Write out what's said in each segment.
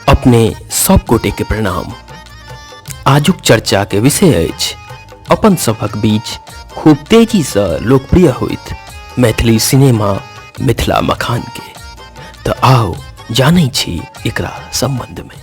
अपने सब गोटे के प्रणाम आजुक चर्चा के विषय अछि अपन सभक बीच खूब तेजी से लोकप्रिय होइत मैथिली सिनेमा मिथिला मखान के तऽ आओ जानै छी एकरा संबंध में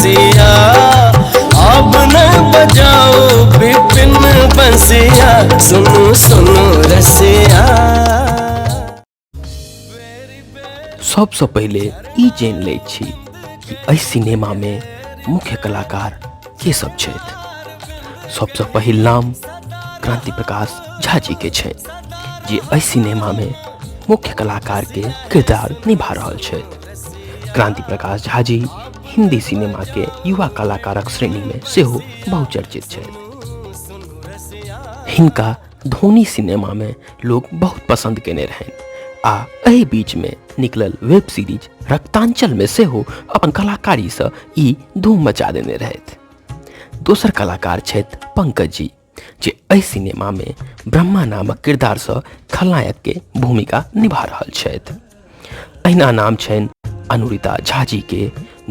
बंसिया अब न बजाओ विपिन बंसिया सुनो सुनो रसिया सबसँ पहिले ई जानि लै छी कि एहि सिनेमामे मुख्य कलाकार के सब छथि सबसँ पहिल नाम क्रांति प्रकाश झा जी के छनि जे एहि सिनेमामे मुख्य कलाकार के किरदार निभा रहल छथि क्रांति प्रकाश झा जी हिंदी सिनेमा के युवा कलाकारक श्रेणी में सेहो बहुचर्चित छथि हिनका धोनी सिनेमा में लोग बहुत पसंद केने रहनि आ एहि बीच में निकलल वेब सीरीज रक्तांचल में सेहो अपन कलाकारी से ई धूम मचा देने रहथि दोसर कलाकार छथि पंकज जी जे एहि सिनेमामे ब्रह्मा नामक किरदारसँ खलनायकके भूमिका निभा रहल छथि अहिना नाम छनि अनुरिता झा जीके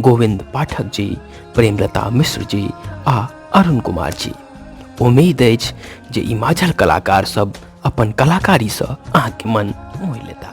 गोविंद पाठक जी प्रेमलता मिश्र जी आ अरुण कुमार जी उम्मीद अछि जे ई माझल कलाकारसभ अपन कलाकारीसँ अहाँके मन मोहि लेता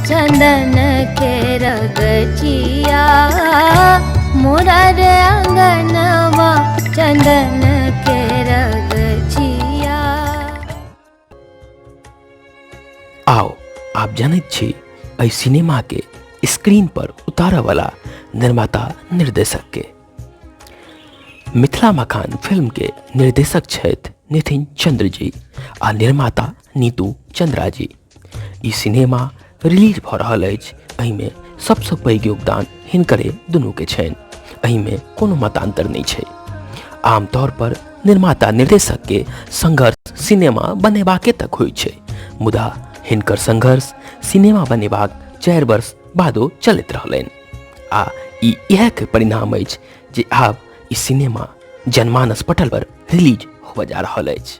चंदन के रगचिया मोरा रे अंगनवा चंदन के रगचिया आओ आप जानत छी एहि सिनेमा के स्क्रीन पर उतारऽ वाला निर्माता निर्देशक के मिथिला मकान फिल्म के निर्देशक छथि नितिन चंद्र जी आ निर्माता नीतू चंद्रा जी ई सिनेमा रिलीज भऽ रहल अछि एहिमे सबसँ पैघ योगदान हिनकरे दुनूके छनि एहिमे कोनो मतान्तर नहि छै आमतौर पर निर्माता निर्देशक के संघर्ष सिनेमा बनेबाके तक होइ छै मुदा हिनकर संघर्ष सिनेमा बनेबाक चारि वर्ष बादो चलैत रहलनि आ ई इएह के परिणाम अछि जे आब ई सिनेमा जनमानस पटल पर रिलीज होबऽ जा रहल अछि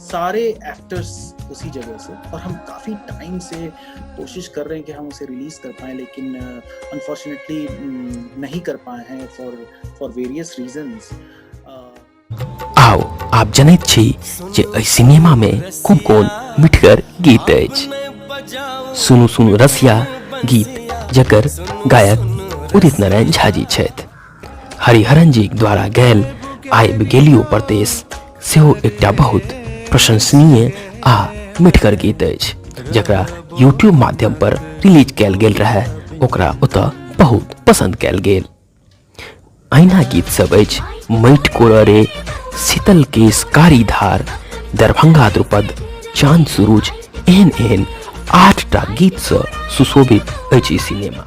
सारे एक्टर्स उसी जगह से और हम काफ़ी टाइम से कोशिश कर रहे हैं कि हम उसे रिलीज़ कर पाएँ लेकिन अनफॉर्चुनेटली uh, नहीं कर पाए हैं फॉर फॉर वेरियस रीजंस आओ आप जनैत छी जे एहि सिनेमा में खूब कोन मिठगर गीत अछि सुनू सुनू रसिया गीत जकर गायक उदित नारायण झा जी छथि हरिहरन जी द्वारा गैल आइब गेलियो प्रदेश सेहो एकटा बहुत प्रशंसनीय आ मिठगर गीत अछि जकरा यूट्यूब माध्यम पर रिलीज कयल गेल रहए ओकरा ओतऽ बहुत पसंद कयल गेल अहिना गीत सब अछि मैट कोड़रे शीतल केश कारी धार दरभंगा द्रुपद चांद सूरज एहन एहन आठटा गीतसँ सुशोभित अछि ई सिनेमा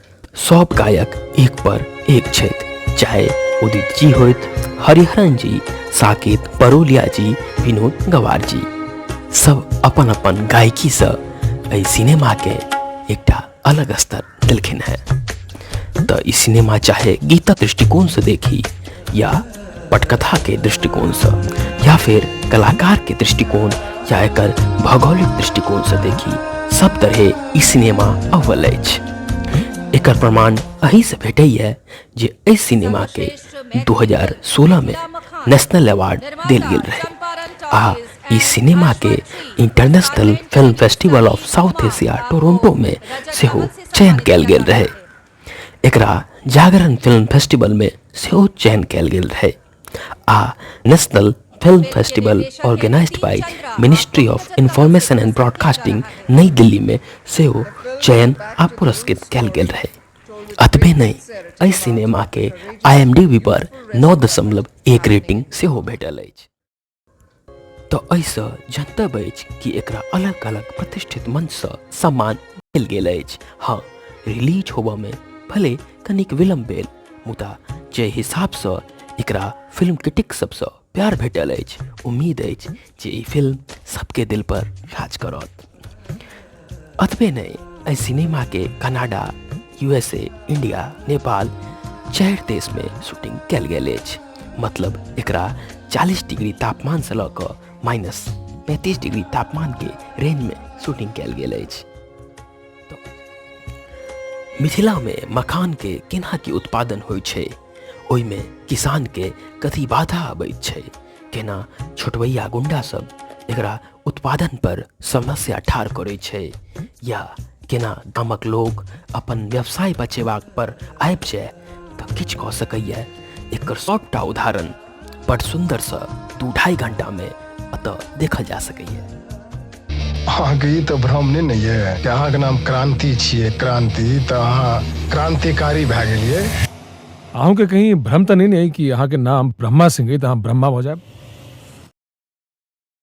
सब गायक एक पर एक छथि चाहे उदित जी होइत हरिहरन जी साकेत परोलिया जी विनोद गवार जी सब अपन अपन गायकीसँ एहि सिनेमाके एकटा अलग स्तर देलखिन हेँ तऽ ई सिनेमा चाहे गीतक दृष्टिकोणसँ देखी या पटकथा के दृष्टिकोण से या फिर कलाकार के दृष्टिकोण या एक भौगोलिक दृष्टिकोण से देखी सब तरह ई सिनेमा अव्वल अछि एक प्रमाण अही से भेटे है जे एहि सिनेमा के 2016 में नेशनल अवार्ड दिल गेल रहे आ ई सिनेमा के international film festival of South Asia Toronto में सेहो चयन कल गेल रहे एकरा जागरण फिल्म फेस्टिवल में सेहो चयन कयल गेल रहे आ national film festival organised by ministry of information and broadcasting Nai Delhi में सेहो चयन आ पुरस्कृत कयल गेल रहे अतबे नहि एहि सिनेमाके आईएमडीबी पर नौ दशमलव एक रेटिंग सेहो भेटल अछि तऽ एहिसँ जनतब अछि कि एकरा अलग अलग प्रतिष्ठित मंचसँ सम्मान देल गेल अछि हँ रिलीज होबऽमे भले कनिक विलम्ब भेल मुदा जे हिसाबसँ एकरा फिल्म क्रिटिक सबसँ प्यार भेटल अछि उम्मीद अछि जे ई फिल्म सबके दिल पर राज करत अतबे नहि एहि सिनेमाके कनाडा यूएसए इंडिया नेपाल चारि देशमे शूटिंग कयल गेल अछि मतलब एकरा चालीस डिग्री तापमानसँ लऽ कऽ माइनस पैंतीस डिग्री तापमानके रेंजमे शूटिंग कयल गेल अछि मिथिलामे मखानके केना की उत्पादन होइत छै ओहिमे किसानके कथी बाधा अबैत छै केना छोटवैया गुंडासभ एकरा उत्पादन पर समस्या ठाढ़ करैत छै या केना गामक लोक अपन व्यवसाय बचेबाक पर आबि जाय तऽ किछु कऽ सकैए एकर सभटा उदाहरण बड़ सुन्दरसँ दू ढाइ घण्टामे एतऽ देखल जा सकैए अहाँके ई तऽ भ्रम नहि ने यऽ कि अहाँके नाम क्रांति छियै क्रांति तऽ अहाँ क्रांतिकारी भए गेलियै अहूँके कहीं भ्रम तऽ नहि ने अइ कि अहाँके नाम ब्रह्मा सिंह अइ तऽ अहाँ ब्रह्मा भऽ जायब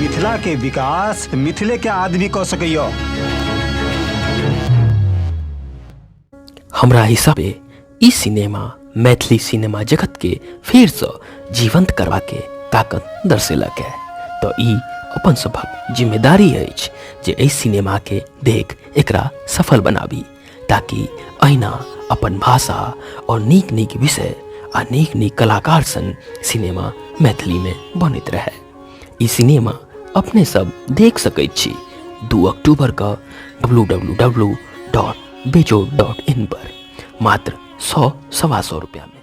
मिथिला के विकास मिथिले के आदमी कऽ सकैया हमरा हिसाबे ई सिनेमा मैथिली सिनेमा जगत के फिर से जीवंत करवा के ताकत दर्शेलक है तो ई अपन सभक जिम्मेदारी अछि जे एहि सिनेमा के देख एकरा सफल बनाबी ताकि अहिना अपन भाषा और नीक नीक विषय आ नीक नीक कलाकार सन सिनेमा मैथिली में बनैत रहे ई सिनेमा अपने सब देख सकैत छी दू अक्टूबर का W W W dot Bejo dot in पर मात्र सौ सवा सौ रुपया में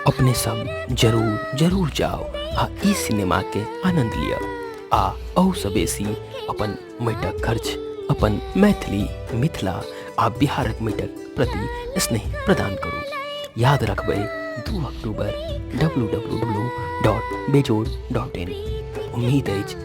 अपने सब जरूर जरूर जाओ आ ई सिनेमा के आनंद लिअ आ अहू से बेसी अपन मैटक खर्च अपन मैथिली मिथिला आ बिहारक मैटक प्रति स्नेह प्रदान करू याद रखबै दू अक्टूबर W W W dot Bejod dot in उम्मीद अछि